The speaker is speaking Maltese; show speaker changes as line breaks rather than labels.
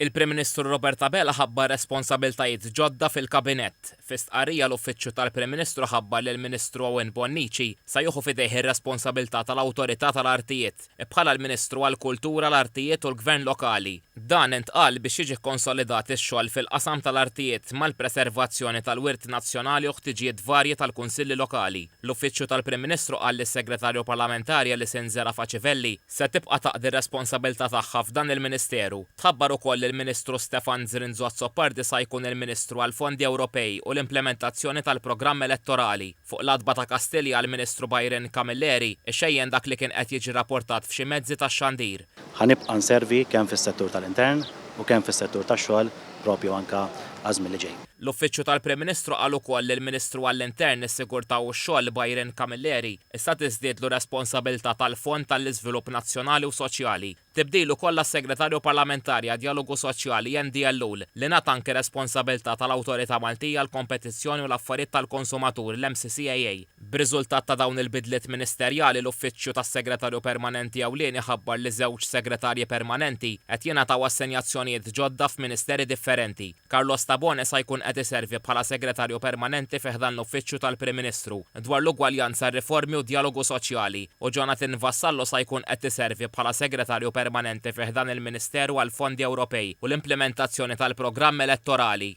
Il-Prim Ministru Robert Abela ħabbar responsabiltajiet ġodda fil-Kabinett. Fi stqarrija l-Uffiċċju tal-Prim Ministru ħabbar li l-Ministru Owen Bonnici se jieħu f'idejh ir-responsabilità tal-Awtorità tal-Artijiet, bħala l-Ministru għall-Kultura, l-Artijiet u l-Gvern Lokali. Dan intqal biex jiġi kkonsolidat ix-xogħol fil-qasam tal-artijiet mal-preservazzjoni tal-wirt nazzjonali u ħtiġijiet varji tal-Kunsilli Lokali. L-Uffiċċju tal-Prim Ministru qal li s-Segretarju Parlamentari Alison Zerafa Civelli, se tibqa' taqdi r-responsabilità tagħha f'dan il-Ministeru. Tħabbar ukoll li l-Ministru Stefan Zrinzo Azzopardi sa jkun il-Ministru għall-Fondi Ewropej u l-Implementazzjoni tal-Programm Elettorali. Fuq l-għatba ta' Kastilja l-Ministru Byron Camilleri xejjen dak li kien qed jiġi rapportat f'xi mezzi tax-xandir. Ħa nibqa' nservi
kemm fis-settur tal-intern u kemm fis-settur tax-xogħol propju anke għaż-żmien li ġej. L-Uffiċċju tal-Prim
Ministru qal ukoll li l-Ministru għall-Intern, is-Sigurtà u x-Xogħol Byron Camilleri issa tiżdiedlu r-responsabilità tal-Fond għall-Iżvilupp Nazzjonali u Soċjali. Tibdil ukoll għas-Segretarju Parlamentari għad-Djalogu Soċjali Andy Ellul li ngħata anki responsabilità tal-Awtorità Maltija għall-Kompetizzjoni u l-Affarijiet tal-Konsumatur, l-MCCAA. B'riżultat ta' dawn il-bidliet ministerjali, l-Uffiċċju tas-Segretarju Permanenti Ewlieni ħabbar li żewġ Segretarji Permanenti qed jingħataw assenjazzjonijiet ġodda f'Ministeri differenti. Carlos Tabone sa jkun qed iservi bħala Segretarju Permanenti fi ħdan l-Uffiċċju tal-Prim Ministru dwar l-Ugwaljanza, r-Riformi u d-Djalogu Soċjali u Jonathan Vassallo sa jkun qed iservi bħala Segretarju Permanenti fi ħdan il-Ministeru għall-Fondi Ewropej u l-Implimentazzjoni tal-Programm Elettorali.